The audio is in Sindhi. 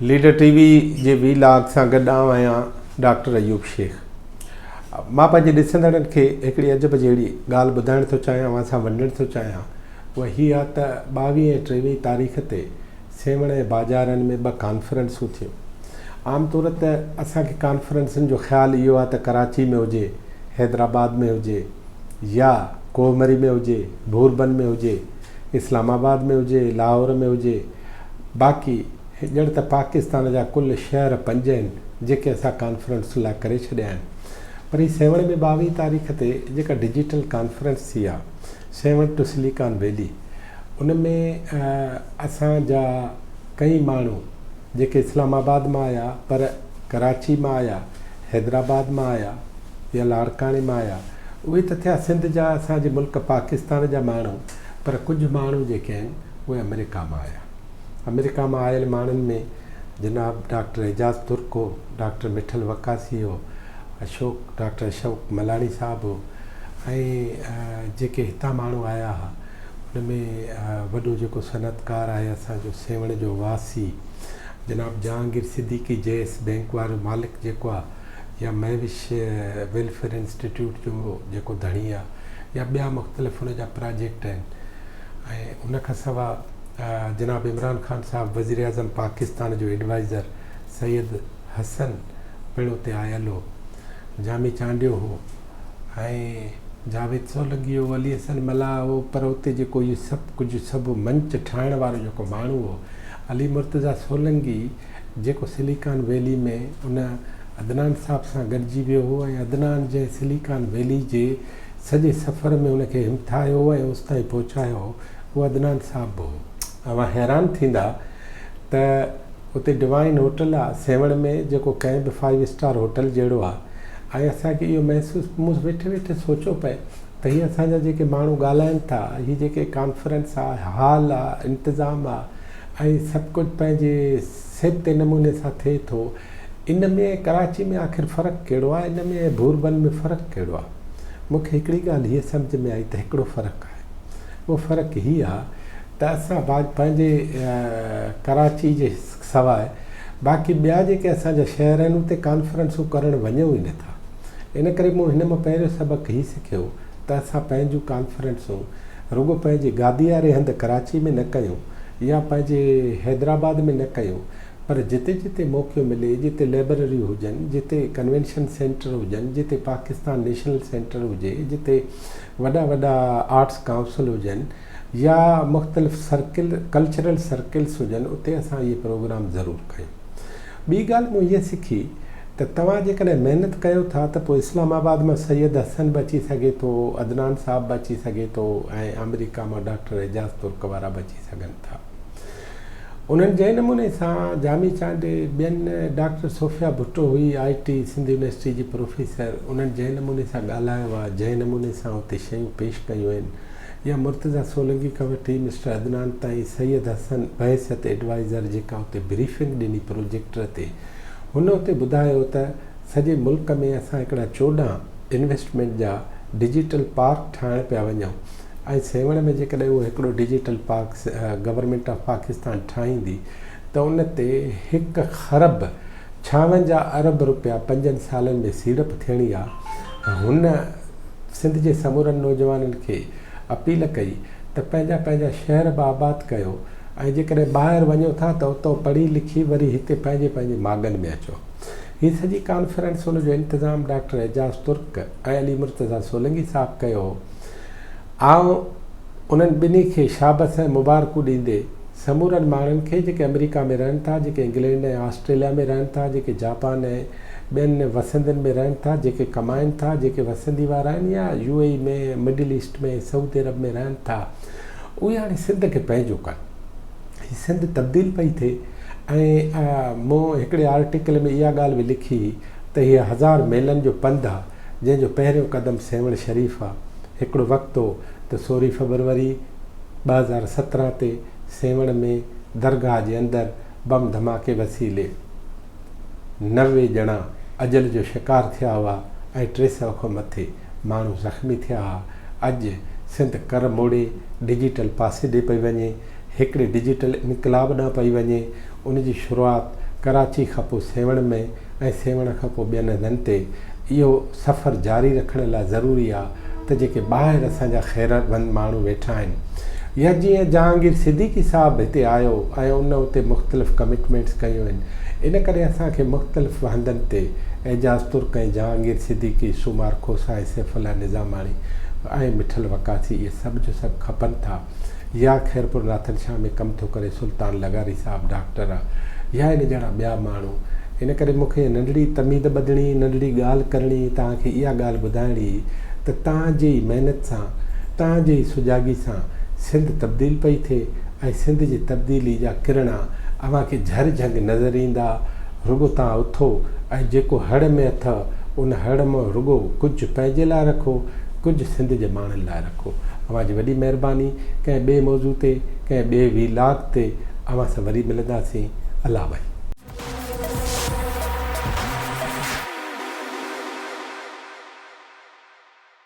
ليڊر ٽي وي جي وي لاگ سان گڏ آئون آهيان ڊاڪٽر ايوب شيخ مان پنهنجي ڏسندڙن کي هڪڙي عجب جهڙي ڳالهه ٻڌائڻ ٿو چاهيان اوهان سان ونڊڻ ٿو چاهيان اها هي آهي ته ٻاويهين ۽ ٽيويهين تاريخ تي سيوهڻ ۽ باجارن ۾ ٻه ڪانفرنسون ٿيون عام طور ته اسان کي ڪانفرنسن جو خيال اهو آهي ته ڪراچي ۾ هجي حيدرآباد ۾ هجي يا ڪوهمري ۾ هجي، ڀوربن ۾ هجي، اسلام آباد ۾ هجي، لاهور ۾ هجي، باقي ڄڻ ته پاڪستان جا ڪل شهر پنج آهن، جيڪي اسان ڪانفرنس لاء ڪري ڇڏيا آهن. پر هي سيوهڻ ۾ ٻاويهه تاريخ تي جيڪا ڊجيٽل ڪانفرنس ٿي آهي، سيوهڻ ٽو سليڪان ويلي، ان ۾ اسان جا ڪئين ماڻهو جيڪي اسلام آباد مان آيا، پر ڪراچي مان آيا، حيدرآباد مان آيا يا لاڙڪاڻي مان آيا اهي ته ٿيا سنڌ جا اسان جي ملڪ پاڪستان جا ماڻهو پر ڪجهه ماڻهو جيڪي آهن اهي آمريڪا مان آيا آمريڪا مان آيل ماڻهن ۾ جناب ڊاڪٽر اعجاز ترڪ هو ڊاڪٽر مٺل وقاصي هو اشوڪ ڊاڪٽر اشوڪ ملاڻي صاحب هو ۽ جيڪي هتان ماڻهو آيا ها ان ۾ وڏو جيڪو صنعتڪار آهي اسان جو سيوهڻ جو واسي جناب Jahangir Siddiqui J S bank وارو مالڪ جيڪو آ يا مهوش ويلفيئر انسٽيٽيوٽ جو جيڪو ڌڻي آ يا ٻيا مختلف ان جا پراجيڪٽ آهن ۽ ان کان سوا جناب عمران خان صاحب وزيراعظم پاڪستان جو ايڊوائزر سيد حسن پڻ اتي آيل هو جامي چانڊيو هو ۽ جاويد سولنگي هو، علي حسن ملاح هو پر اتي جيڪو اهو سڀ ڪجهه سڀ منچ ٺاهڻ وارو جيڪو ماڻهو هو علي مرتضيٰ سولنگي جيڪو سليڪان ويلي ۾ ان عدنان صاحب سان گڏجي ويو هو ۽ عدنان جنهن سليڪان ويلي جي سڄي سفر ۾ هن کي همٿايو ۽ اوستائين پهچايو هو اهو عدنان صاحب به هو. اوهان حيران ٿيندا ته اتي ڊوائن هوٽل آ سيوهڻ ۾ جيڪو ڪنهن به فائيو اسٽار هوٽل جهڙو آ ۽ اسان کي اهو محسوس مون ويٺي ويٺي سوچيو پئي ته هي اسان جا جيڪي ماڻهو ڳالهائين ٿا هي جيڪي ڪانفرنس آ هال آ انتظام آ ۽ سڀ ڪجهه پنهنجي سيبتي نموني سان ٿئي ٿو ان ۾ ڪراچي ۾ آخر فرق ڪهڙو آ ان ۾ ۽ ڀورڀن ۾ فرق ڪهڙو آ مون کي هڪڙي ڳالهه هيء سمجهه ۾ آئي ته هڪڙو فرق آهي اهو فرق هي آ ته اسان بعد پنهنجي ڪراچي جي سواء باقي ٻيا جيڪي اسان جا شهر آهن اتي ڪانفرنسون ڪرڻ وڃون ئي نه ٿا ان ڪري مون هن مان پهريون سبق هي سکيو ته اسان پنهنجون ڪانفرنسون رڳو پنهنجي گادي واري هنڌ ڪراچي ۾ نه ڪيون يا پنهنجي حيدرآباد ۾ نه ڪيون پر جتي جتي موقعو ملي جتي لئبرريون هجن جتي ڪنوينشن سينٽر هجن جتي پاڪستان نيشنل سينٽر هجي جتي وڏا وڏا آرٽس ڪائونسل هجن يا مختلف سرڪل ڪلچرل سرڪلس هجن اتي اسان اهي پروگرام ضرور ڪيون ٻي ڳالهه مون هيء سکي ته توهان جيڪڏهن محنت ڪيو ٿا ته پوء اسلام آباد مان سيد حسن به اچي سگهي ٿو عدنان صاحب به اچي سگهي ٿو ۽ آمريڪا مان ڊاڪٽر اعجاز ترڪ وارا به اچي سگهن ٿا. انهن جنهن نموني سان جامي چانڊيي ٻين ڊاڪٽر صوفيا ڀٽو هئي آء ٽي سنڌ يونيورسٽي جي پروفيسر انهن جنهن نموني سان ڳالهايو آء جنهن نموني سان اتي شيون پيش ڪيون آهن يا مرتضيٰ سولنگي کان وٺي مسٽر عدنان تائين سيد حسن بحيثيت ايڊوائيزر جيڪا اتي بريفنگ ڏني پروجيڪٽر تي هن اتي ٻڌايو ته سڄي ملڪ ۾ اسان هڪڙا چوڏهن انويسٽمينٽ جا ڊجيٽل پارڪ ٺاهڻ پيا وڃون ۽ سيوهڻ ۾ جيڪڏهن اهو هڪڙو digital park government of Pakistan ٺاهيندي ته ان تي هڪ خرب ڇاونجاهه ارب رپيا پنجن سالن ۾ سيڙپ ٿيڻي آ. هن سنڌ جي سمورن نوجوانن کي اپيل ڪئي ته پنهنجا پنهنجا شهر به آباد ڪيو ۽ جيڪڏهن ٻاهر وڃو ٿا ته اتو پڙهي لکي وري هتي پنهنجي پنهنجي ماڳن ۾ اچو. هي سڄي ڪانفرنس ان جو انتظام ڊاڪٽر اعجاز ترڪ ۽ علي مرتضيٰ سولنگي صاحب ڪيو هو. آئون انهن ٻنهي کي شابس ۽ مبارڪون ڏيندي سمورن ماڻهن کي جيڪي آمريڪا ۾ رهن ٿا جيڪي انگلينڊ ۽ آسٽريليا ۾ رهن ٿا جيڪي جاپان ۽ ٻين وسندين ۾ رهن ٿا جيڪي ڪمائين ٿا جيڪي وسندي وارا آهن يا U A E ۾ middle east ۾ سعودي عرب ۾ رهن ٿا اهي هاڻي سنڌ کي پنهنجو ڪن هي سنڌ تبديل پئي ٿئي ۽ مون هڪڙي آرٽيڪل ۾ اها ڳالهه به لکي هئي ته هي هزار ميلن جو پنڌ آهي جنهن جو پهريون قدم سيوهڻ شريف آ. هڪڙو وقت هو ته سورهين فبروري ٻه هزار سترهن تي سيوهڻ ۾ درگاهه جي اندر بم ڌماڪي وسيلي نوي ڄڻا اجل جو شڪار ٿيا هئا ۽ ٽي سؤ کان مٿي ماڻهو زخمي ٿيا ها. اڄ سنڌ ڪر موڙي ڊجيٽل پاسي ڏي پئي وڃي. هڪڙي ڊجيٽل انقلاب ڏانهن پئي وڃي، ان جي شروعات ڪراچي کان پوء سيوهڻ ۾ ۽ سيوهڻ کان پوء ٻين هنڌن تي اهو سفر جاري رکڻ لاء ضروري آ ته جيڪي ٻاهر اسان جا خيروند ماڻهو ويٺا آهن يا جيئن جهانگير صديقي صاحب هتي آيو ۽ ان اتي مختلف ڪمٽمينٽس ڪيون آهن ان ڪري اسان کي مختلف هنڌن تي اعجاز ترڪ ۽ جهانگير صديقي سومار کوسا ۽ سيف الله نظاماڻي ۽ مٺل وقاصي اهي سڀ جو سڀ کپن ٿا. يا خيرپور ناٿن شاهه ۾ ڪم ٿو ڪري سلطان لغاري صاحب ڊاڪٽر آ يا ان جهڙا ٻيا ماڻهو ان ڪري مون کي ننڍڙي تميد ٻڌڻي ننڍڙي ڳالهه ڪرڻي توهان کي اها ڳالهه ٻڌائڻي هئي ته توهان جي ئي محنت سان توهان جي ئي سجاڳي سان سنڌ تبديل پئي ٿئي ۽ سنڌ جي تبديلي جا ڪرڻا اوهان کي جهر جهنگ نظر ايندا رڳو توهان اٿو ۽ جيڪو هڙ ۾ اٿئو ان هڙ مان رڳو ڪجهه پنهنجي لاء رکو ڪجهه سنڌ جي ماڻهن لاء رکو. اوهان جي وڏي مهرباني. ڪنهن ٻئي موضوع تي ڪنهن ٻئي وي لاگ تي اوهان سان وري ملنداسين. الله ڀائي.